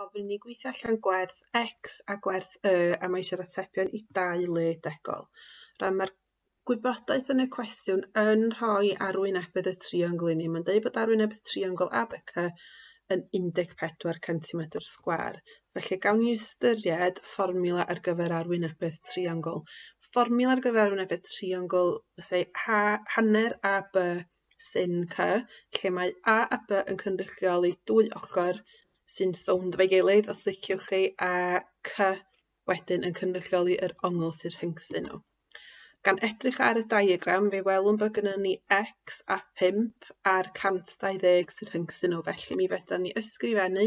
gofyn i ni gweithio allan gwerth X a gwerth Y a mae eisiau'r atebion i dau le degol. Rhan mae'r gwybodaeth yn y cwestiwn yn rhoi arwynebedd y triongl i ni. Mae'n dweud bod arwynebedd triongl ABC yn 14 cm sgwar. Felly gawn ni ystyried fformula ar gyfer arwynebedd triongl. Fformula ar gyfer arwynebedd triongl, bethau hanner AB sy'n cy, lle mae A a By yn cynrychioli dwy ochr sy'n sownd efo'i gilydd, os liciwch chi, a Cy wedyn yn cynrychioli yr ongl sy'n rhyngthyn nhw. Gan edrych ar y diagram, fe welwn bod gyda ni x a 5 a'r 120 sy'n rhyngthyn nhw, felly mi fedrwn ni ysgrifennu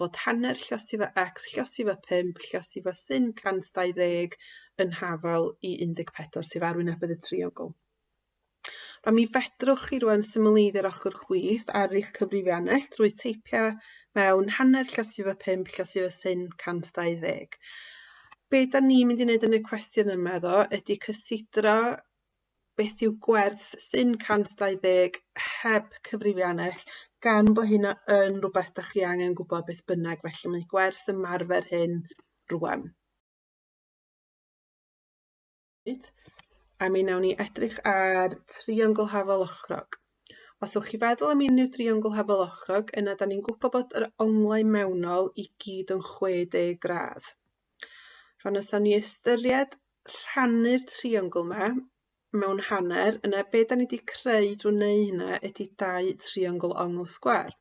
bod hanner llosi fo x, llosi fo 5, llosi fo sin 120 yn hafal i 14 sef arwynebedd y triongl. A mi fedrwch chi rwan symleiddio'r ochr chwith ar eich cyfrifiannell drwy teipio mewn hanner llysyf y 5, llysyf y syn 120. Be da ni mynd i wneud yn y cwestiwn yma ddo ydy cysidro beth yw gwerth syn 120 heb cyfrifiannell gan bod hynna yn rhywbeth da chi angen gwybod beth bynnag felly mae gwerth ymarfer hyn rwan. hyd, a mi nawn ni edrych ar triongl hafol ochrog. Os ydych chi feddwl am unrhyw driongl hafol ochrog, yna da ni'n gwybod bod yr onglau mewnol i gyd yn 60 gradd. Rhan os ni ystyried rhannu'r triongl yma mewn hanner, yna be da ni wedi creu drwy wneud hynna ydy dau triongl ongl sgwar.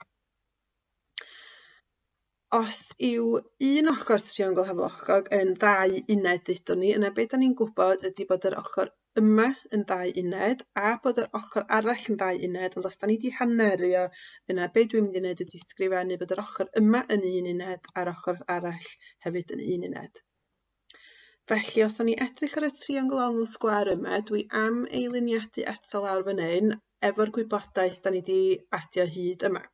os yw un ochor triongl hafochog yn ddau uned ddudwn ni yna be' 'dan ni'n gwbod ydi bod yr ochor yma yn ddau uned a bod yr ochor arall yn ddau uned ond os 'dan ni 'di hanneru o yna be' dwi'n mynd i neud ydi sgrifennu bod yr ochor yma yn un uned a'r ochor arall hefyd yn un uned. Felly os 'dan ni edrych ar y triongl ongl sgwâr yma dwi am ei liniadu eto lawr fan 'yn efo'r gwybodaeth 'dan ni 'di adio hyd yma.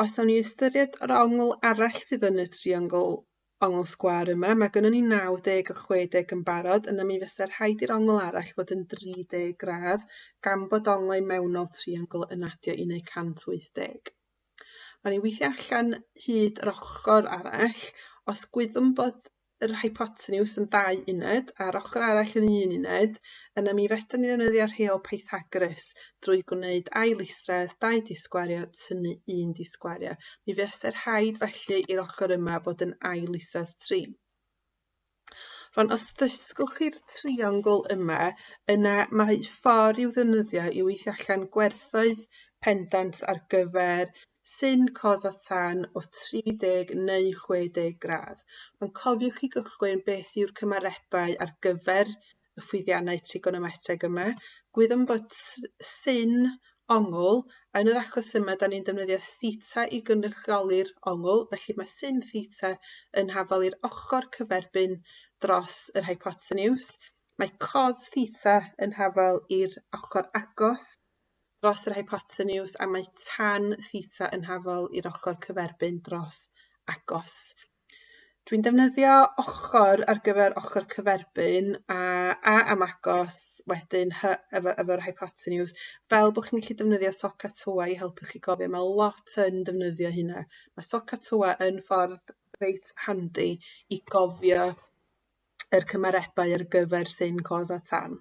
Os awn ni ystyried yr ongl arall sydd yn y triongl ongl sgwâr yma, mae gynnon ni 90 a 60 yn barod, yna mi fysa rhaid i'r ongl arall fod yn 30 gradd, gan bod onglau mewnol triongl yn adio i wneud 180. Mae ni weithio allan hyd yr ochr arall, os gwyddwn bod yr hypotenws yn ddau uned a'r ochr arall yn un uned, yna mi fedrwn ni ddefnyddio rheol Pythagoras drwy gwneud ail isradd, dau disgwario, tynnu un disgwario. Mi fyse'r rhaid felly i'r ochr yma fod yn ail isradd 3. Rwan, os ddysgwch chi'r triongl yma, yna mae ffordd i'w ddefnyddio i weithio allan gwerthoedd pendant ar gyfer Sy'n cos at tan o 30 neu 60 gradd. Ond cofiwch i gychwyn beth yw'r cymarebau ar gyfer y ffwythiannau trigonometeg yma. Gwyddom bod sy'n ongl, yn yr achos yma da ni'n defnyddio theta i gynrychioli'r ongl, felly mae sy'n theta yn hafal i'r ochr cyferbyn dros yr hypotenuse. Mae cos theta yn hafal i'r ochr agos dros yr hypoteniws a mae tan theta yn hafol i'r ochr cyferbyn dros agos. Dwi'n defnyddio ochr ar gyfer ochr cyferbyn a a am agos, wedyn hy efo, efo'r hypoteniws. Fel bod chi'n gallu defnyddio socatoa i helpu chi gofio, mae lot yn defnyddio hynna. Mae socatoa yn ffordd reit handi i gofio yr cymarebau ar gyfer sy'n cos a tan.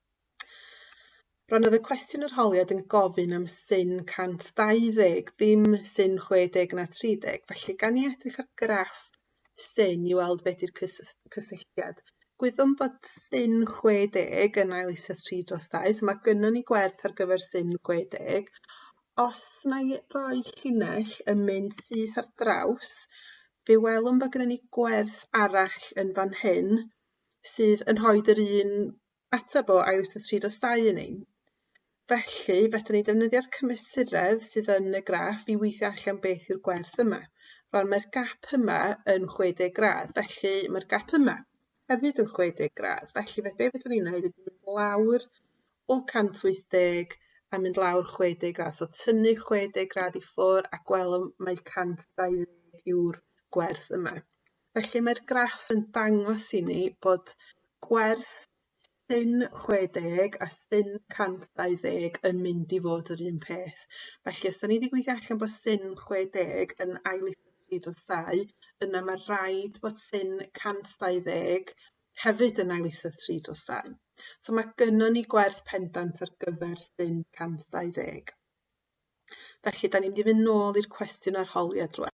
Rhan oedd y cwestiwn yr holiad yn gofyn am syn 120, ddim syn 60 na 30. Felly, gan i edrych ar graff syn i weld beth yw'r cysylltiad. Gwyddwn bod syn 60 yn ail eisiau 3 dros 2, so mae gynnon ni gwerth ar gyfer syn 60. Os na i roi llinell yn mynd syth ar draws, fe welwn bod gynnon ni gwerth arall yn fan hyn, sydd yn rhoid yr un ateb o iws a tri dros dau yn ein. Felly, fedrwn ni ddefnyddio'r cymesuredd sydd yn y graff i weithio allan beth yw'r gwerth yma. Rwan, mae'r gap yma yn 60 gradd, felly mae'r gap yma hefyd yn 60 gradd. Felly, fe be fedrwn ni'n gwneud ydy mynd lawr o 180 a mynd lawr 60 gradd. So, tynnu 60 gradd i ffwr a gwelwn mae 120 yw'r gwerth yma. Felly mae'r graff yn dangos i ni bod gwerth sin 60 a sin 120 yn mynd i fod yr un peth. Felly, os da ni wedi gweithio allan bod sin 60 yn ail tri drosau, yna mae rhaid bod sin 120 hefyd yn ail tri drosau. So mae gynnon ni gwerth pendant ar gyfer sin 120. Felly, da ni'n mynd i fynd nôl i'r cwestiwn arholiad rwan.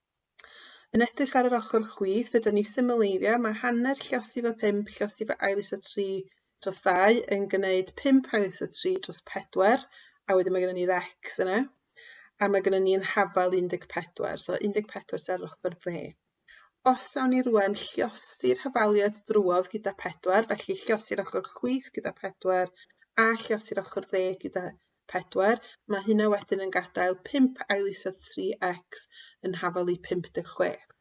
Yn edrych ar yr ochr chwith, yda ni symleiddio, mae hanner lliosif o 5 lliosif o ail iso 3 dros 2 yn gwneud 5 ail iso 3 dros 4, a wedyn mae gennym ni rex yna, a mae gennym ni'n hafal 14, so 14 ser ochr dde. Os awn ni rwan lliosi'r hafaliad drwodd gyda 4, felly lliosi'r ochr chwith gyda 4, a lliosi'r ochr dde gyda 4, mae hynna wedyn yn gadael 5 ail isod 3x yn hafal i 56.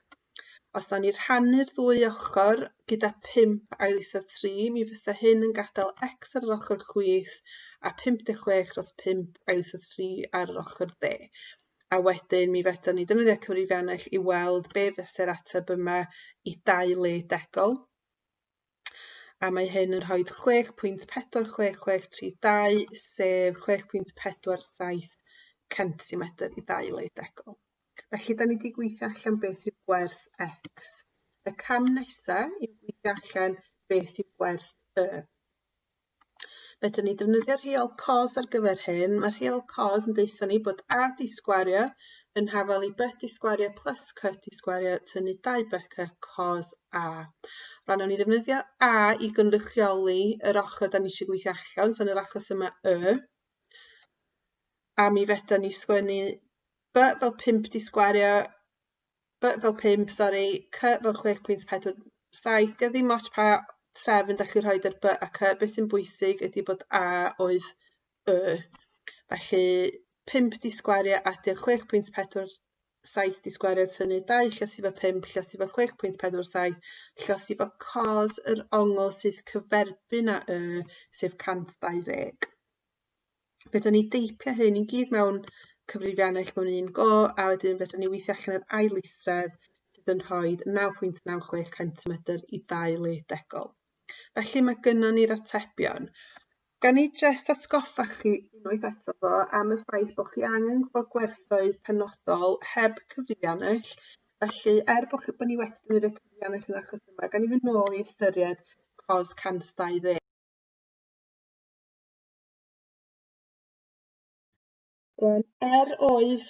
Os da ni rhannu'r ddwy ochr gyda 5 ail isod 3, mi fysa hyn yn gadael x ar yr ochr chwith a 56 dros 5 ail isod 3 ar yr ochr dde a wedyn mi fedrwn ni defnyddio cyfrifiannell i weld be fese'r ateb yma i dau le degol. A mae hyn yn rhoi 6.4662 sef 6.47 centimetr i ddau le degol. Felly, da ni wedi gweithio allan beth yw gwerth x. Y cam nesaf yw gweithio allan beth yw gwerth y. Fedrwn ni defnyddio rheol cos ar gyfer hyn. Mae rheol cos yn deutha ni bod A di sgwario yn hafel i B di sgwario plus C di sgwario tynnu 2BC cos A. Rhan o'n i ddefnyddio A i gynrychioli yr ochr da ni eisiau gweithio allan, so yn yr achos yma Y. A mi fedrwn ni sgwennu B fel 5 di sgwario by fel pump sori cy fel chwech pwynt pedwar saith dio ddim ots pa trefn da chi rhoi ar by a cy beth sy'n bwysig ydi bod a oedd y felly pump di sgwario adio chwech pwynt pedwar saith di sgwario tynnu dau lles i fo pump lles i fo chwech pwynt pedwar saith lles i fo cos yr ongl sydd cyferbyn a y sef cant dau ddeg. fedrwn ni deipio hyn i gyd mewn cyfrifiannau eich mewn un go, a wedyn fedrwn ni weithio allan yr ail eithred sydd yn rhoi 9.96 centimetr i ddau le degol. Felly mae gynnon ni'r atebion. Gan ni jyst atgoffa chi unwaith eto ddo am y ffaith bod chi angen gwybod gwerthoedd penodol heb cyfrifiannell, felly er bod, chi, bod ni wedi defnyddio cyfrifiannell yn achos yma, gan ni fynd nôl i ystyried cos 120. Rwan, er oedd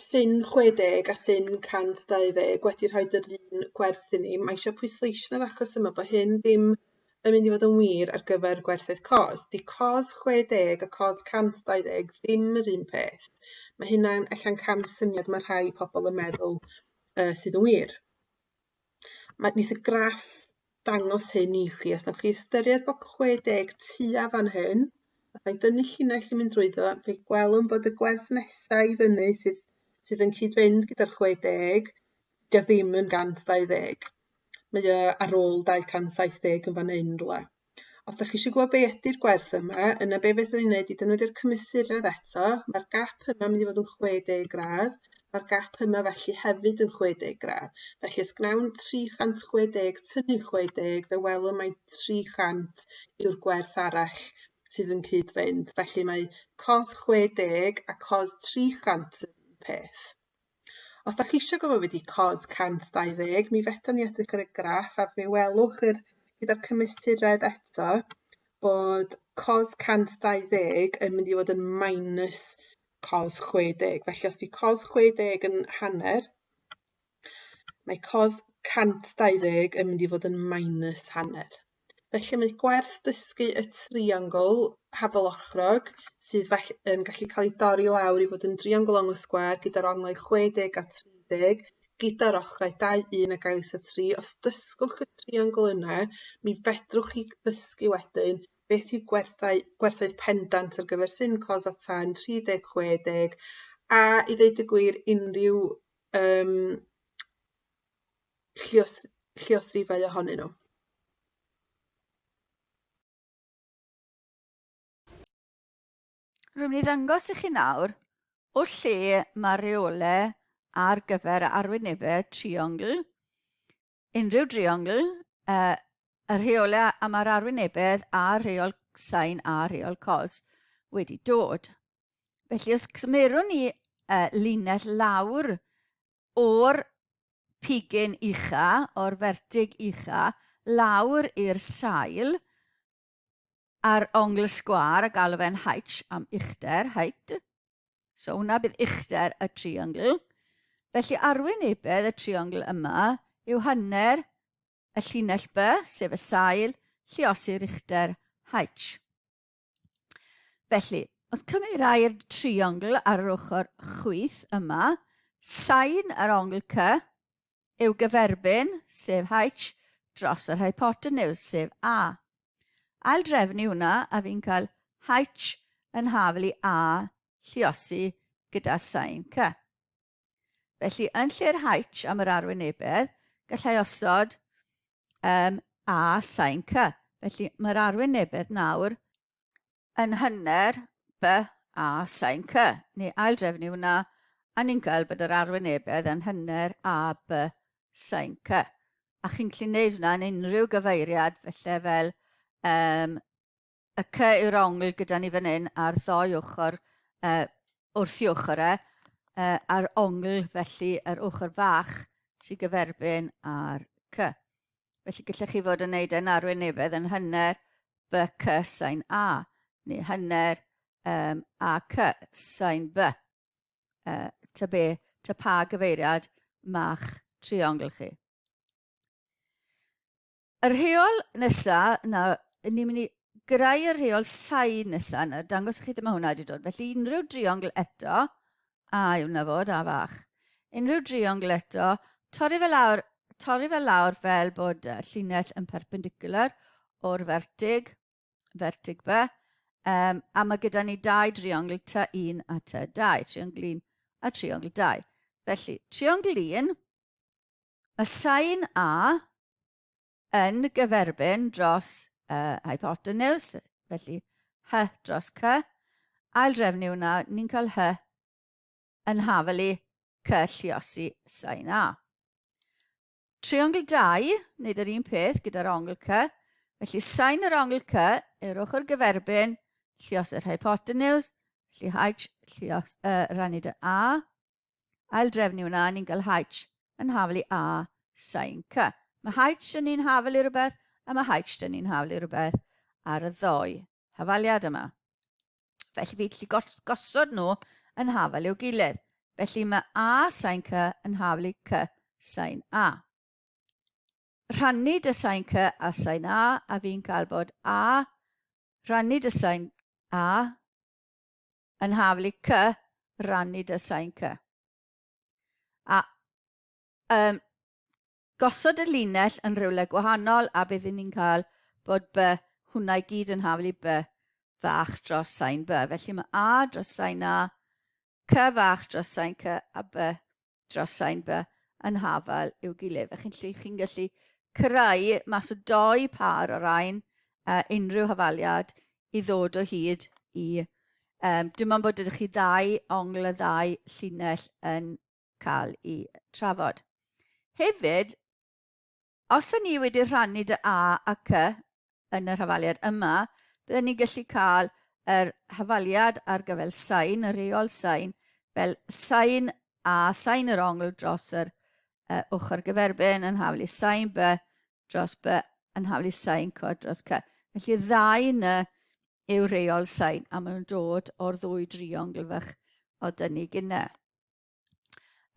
syn 60 a syn 120 wedi rhoi yr un gwerth i ni, mae eisiau pwysleisio yn yr achos yma bod hyn ddim yn mynd i fod yn wir ar gyfer gwerthoedd cos. Di cos 60 a cos 120 ddim yr un peth. Mae hynna'n ella'n cam syniad mae rhai pobl yn meddwl uh, sydd yn wir. Mae wneith y graff dangos hyn i chi. Os wnewch chi ystyried bod 60 tua fan hyn, os ai dynnu llinell i mynd drwyddo, fe gwelwn bod y gwerth nesaf i fyny sydd, sydd yn cyd-fynd gyda'r 60, dio ddim yn 120. Mae o ar ôl 270 yn fan hyn rhywle. Os dach chi eisiau gwybod be ydy'r gwerth yma, yna be fedrwn ni wneud i defnyddio'r cymesuredd eto, mae'r gap yma mynd i fod yn 60 gradd, mae'r gap yma felly hefyd yn 60 gradd. Felly os gnawn 360 tynnu 60, fe welwn mae 300 yw'r gwerth arall sydd yn cyd-fynd. Felly mae cos 60 a cos 300 yn peth. Os da chi eisiau gwybod beth ydy COS 120, mi fetho ni edrych ar y graff a fe welwch yr, gyda'r cymesuredd eto bod COS 120 yn mynd i fod yn minus COS 60. Felly os di COS 60 yn hanner, mae COS 120 yn mynd i fod yn minus hanner. Felly mae gwerth dysgu y triongl hafelochrog sydd fell- yn gallu cael ei dorri lawr i fod yn driongl ongl sgwâr gyda'r onglau 60 a 30 gyda'r ochrau 2, 1 a gael isa 3. Os dysgwch y triongl yna, mi fedrwch chi ddysgu wedyn beth yw gwerthau, gwerthoedd pendant ar gyfer sin cos a tan 30, 60 a i ddeud y gwir unrhyw um, lluos- lluosrifau ohonyn nhw. Rwy'n mynd i ddangos i chi nawr o lle mae'r reolau ar gyfer arwynebau triongl, unrhyw driongl, uh, y rheolau am yr arwynebedd a rheol sain a rheol cos wedi dod. Felly os cymerwn ni uh, linell lawr o'r pigyn ucha, o'r fertig ucha, lawr i'r sail a'r ongl sgwar a galw fe'n H am uchder, height. So hwnna bydd uchder y triongl. Felly arwynebedd y triongl yma yw hanner y llinell B, sef y sail, lliosi'r uchder H. Felly, os cymerai'r triongl ar yr ochr chwith yma, sain yr ongl cy yw gyferbyn, sef h, dros yr hypotenws, sef a. Ail drefnu hwnna, a fi'n cael h yn hafel i a lliosi gyda sain cy. Felly, yn lle'r H am yr arwynebedd, gallai osod um, A sain C. Felly, mae'r arwynebedd nawr yn hynner B A sain C, neu ail drefnu hwnna, a ni'n cael bod yr arwynebedd yn hynner A B sain C. A chi'n gallu gwneud hwnna yn unrhyw gyfeiriad, felly fel um, y cy yw'r ongl gyda ni fan hyn ar ddoi ochr uh, wrth i ochr e, uh, a'r ongl felly yr ochr fach sy'n gyferbyn ar cy. Felly gallech chi fod yn neud e'n arwynebedd yn hynner by cy sain A, neu hynner um, a cy sain B. Uh, ta be, ta pa gyfeiriad ma'ch triongl chi. Y rheol nesa, na, ni'n mynd i greu y rheol sain nesa, na, dangos chi dyma hwnna wedi dod. Felly unrhyw driongl eto, a yw na fod, a fach. Unrhyw driongl eto, torri fel lawr, torri fel lawr fel bod uh, llinell yn perpendicular o'r fertig, fertig be, um, a mae gyda ni dau driongl ta un a ta dau, triongl un a triongl dau. Felly, triongl un, y sain A yn gyferbyn dros y hypotenws, felly H dros C, ail drefnu hwnna, ni'n cael H yn hafelu C lliosi sain A. Triongl 2, wneud yr un peth gyda'r ongl C, felly sain yr ongl C i'r ochr gyferbyn llios yr hypotenws, felly H llios, uh, rannu dy A, aildrefnu yna, ni'n cael H yn hafel i A sain C. Mae H yn un hafel i rhywbeth a mae H yn un hafel i rhywbeth ar y ddoi hafaliad yma. Felly fi gallu gosod nhw yn hafel i'w gilydd. Felly mae A sain C yn hafel i C sain A. Rhannu dy sain C a sain A a fi'n cael bod A rhannu dy sain A yn hafl i cy rannu dy sain cy. A um, gosod y linell yn rhywle gwahanol a bydd ni'n cael bod by hwnna i gyd yn haflu by fach dros sain by. Felly mae A dros sain A, C fach dros sain C a B dros sain by yn hafal i'w gilydd. A chi'n chi gallu creu mas o doi par o rain uh, unrhyw hafaliad i ddod o hyd i... Um, dim ond bod ydych chi ddau ongl y ddau llinell yn cael ei trafod. Hefyd, Os y'n ni wedi rhannu dy A a Cy yn yr hafaliad yma, bydden ni'n gallu cael yr hafaliad ar gyfer sain, y reol sain, fel sain A, sain yr ongl dros yr uh, ochr gyferbyn yn haflu sain B dros B yn haflu sain C dros C. Felly ddau ny yw reol sain a maen nhw'n dod o'r ddwy driongl fach oedd dyn ni gynne.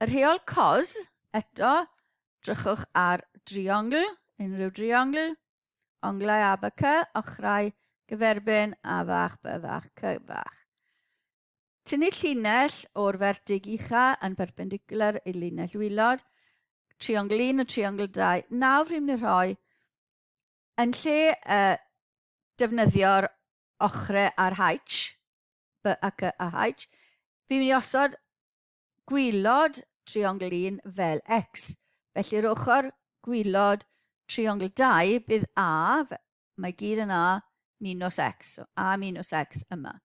Y rheol cos, eto, drychwch ar driongl, unrhyw driongl, onglau a by cy, ochrau, gyferbyn a fach by fach cy fach. Tynnu llinell o'r fertig ucha yn perpendicular i linell wylod, triongl 1 a triongl 2. Nawr rhyw'n mynd rhoi, yn lle uh, defnyddio'r ochre ar H, B ac Y a H, fi'n mynd i osod gwylod triongl 1 fel X. Felly'r ochr gwylod triongl 2 bydd A, mae gyd yn A, minus X, so A minus X yma.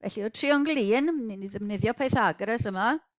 Felly o triongl 1, ni'n mynd i ddefnyddio Pythagoras yma,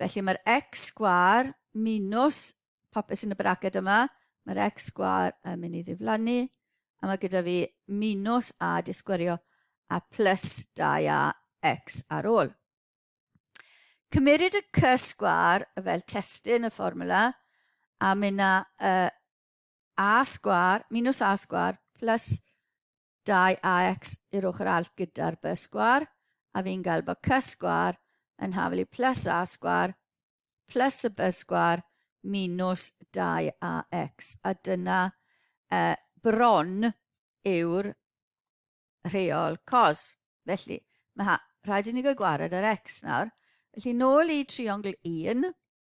Felly mae'r x sgwar minus popeth sy'n y braced yma, mae'r x sgwar yn mynd i ddiflannu, a mae gyda fi minus a disgwyrio a plus 2a x ar ôl. Cymeryd y c sgwar fel testyn y fformwla a mynd â y a sgwâr minus a sgwâr plus 2ax i'r ochr arall gyda'r b sgwâr, a fi'n gael bod c sgwâr yn hafelu plus a sgwâr plus y b sgwâr minus 2ax. A dyna uh, bron yw'r rheol cos. Felly, mae rhaid i ni gael gwared ar x nawr. Felly, nôl i triongl 1,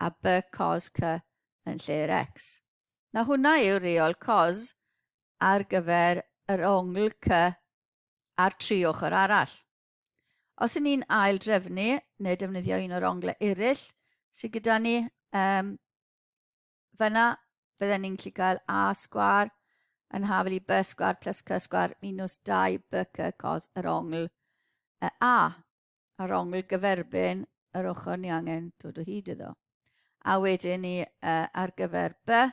a by cos cy yn lle'r x. Na hwnna yw reol cos ar gyfer yr ongl cy ar tri ochr arall. Os yn ni'n ail drefnu neu defnyddio un o'r onglau eraill sydd gyda ni, um, fyna fydden ni'n gallu cael a sgwar yn hafel i by sgwar plus cy sgwar minus 2 by cy cos yr ongl y a. a'r ongl gyferbyn yr ochr ni angen dod o hyd iddo. A wedyn ni uh, ar gyfer B,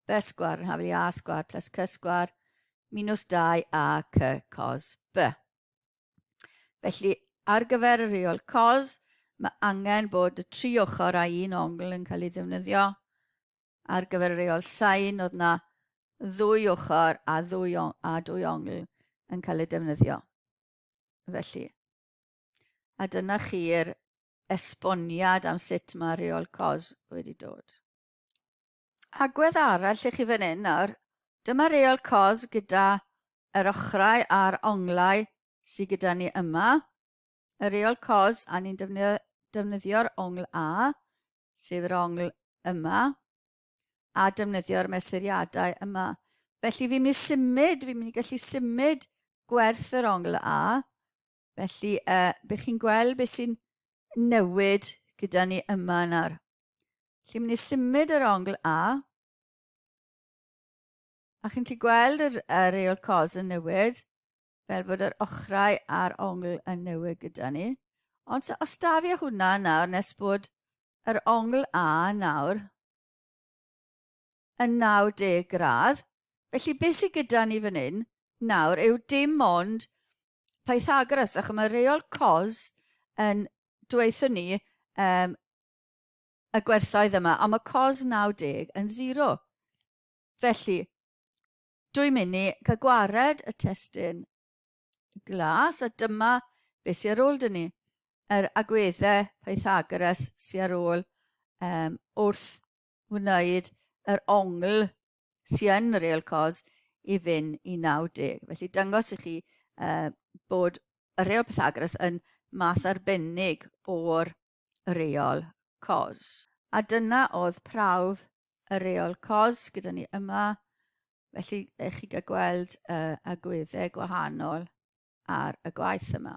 B sgwar yn hafel i A sgwar plus C sgwar minus 2 A C cos B. Felly, ar gyfer y reol cos, mae angen bod y tri ochr a un ongl yn cael ei ddefnyddio. Ar gyfer y reol sain, oedd na ddwy ochr a ddwy, a dwy ongl yn cael ei defnyddio. Felly, A dyna chi'r esboniad am sut mae reol cos wedi dod. Agwedd arall i chi fan hyn nawr, dyma reol cos gyda yr ochrau a'r onglau sydd gyda ni yma. Y reol cos a ni'n defnyddio'r ongl A, sef yr ongl yma. a defnyddio'r mesuriadau yma. Felly fi'n mynd i symud, fi'n mynd i gallu symud gwerth yr ongl A. Felly uh, bych chi'n gweld beth sy'n newid gyda ni yma nawr. Felly mynd i symud yr ongl A. A chi'n gallu gweld yr, yr reol cos yn newid. fel bod yr ochrau a'r ongl yn newid gyda ni. Ond os da fi hwnna nawr, nes bod yr ongl A nawr yn 90 gradd, felly beth sydd gyda ni fan hyn nawr yw dim ond Pythagoras, ac mae reol cos yn dweithio ni um, y gwerthoedd yma, ond mae cos 90 yn 0. Felly, Dwi'n mynd i cael gwared y testun glas a dyma beth sy'n ar ôl dyn ni. Yr agweddau Pythagoras sy'n ar ôl um, wrth wneud yr ongl sy'n yn real cos i fynd i 90. Felly dyngos i chi uh, bod y real Pythagoras yn math arbennig o'r y reol cos. A dyna oedd prawf y reol cos gyda ni yma. Felly, ych chi gael gweld y agweddau gwahanol ar y gwaith yma.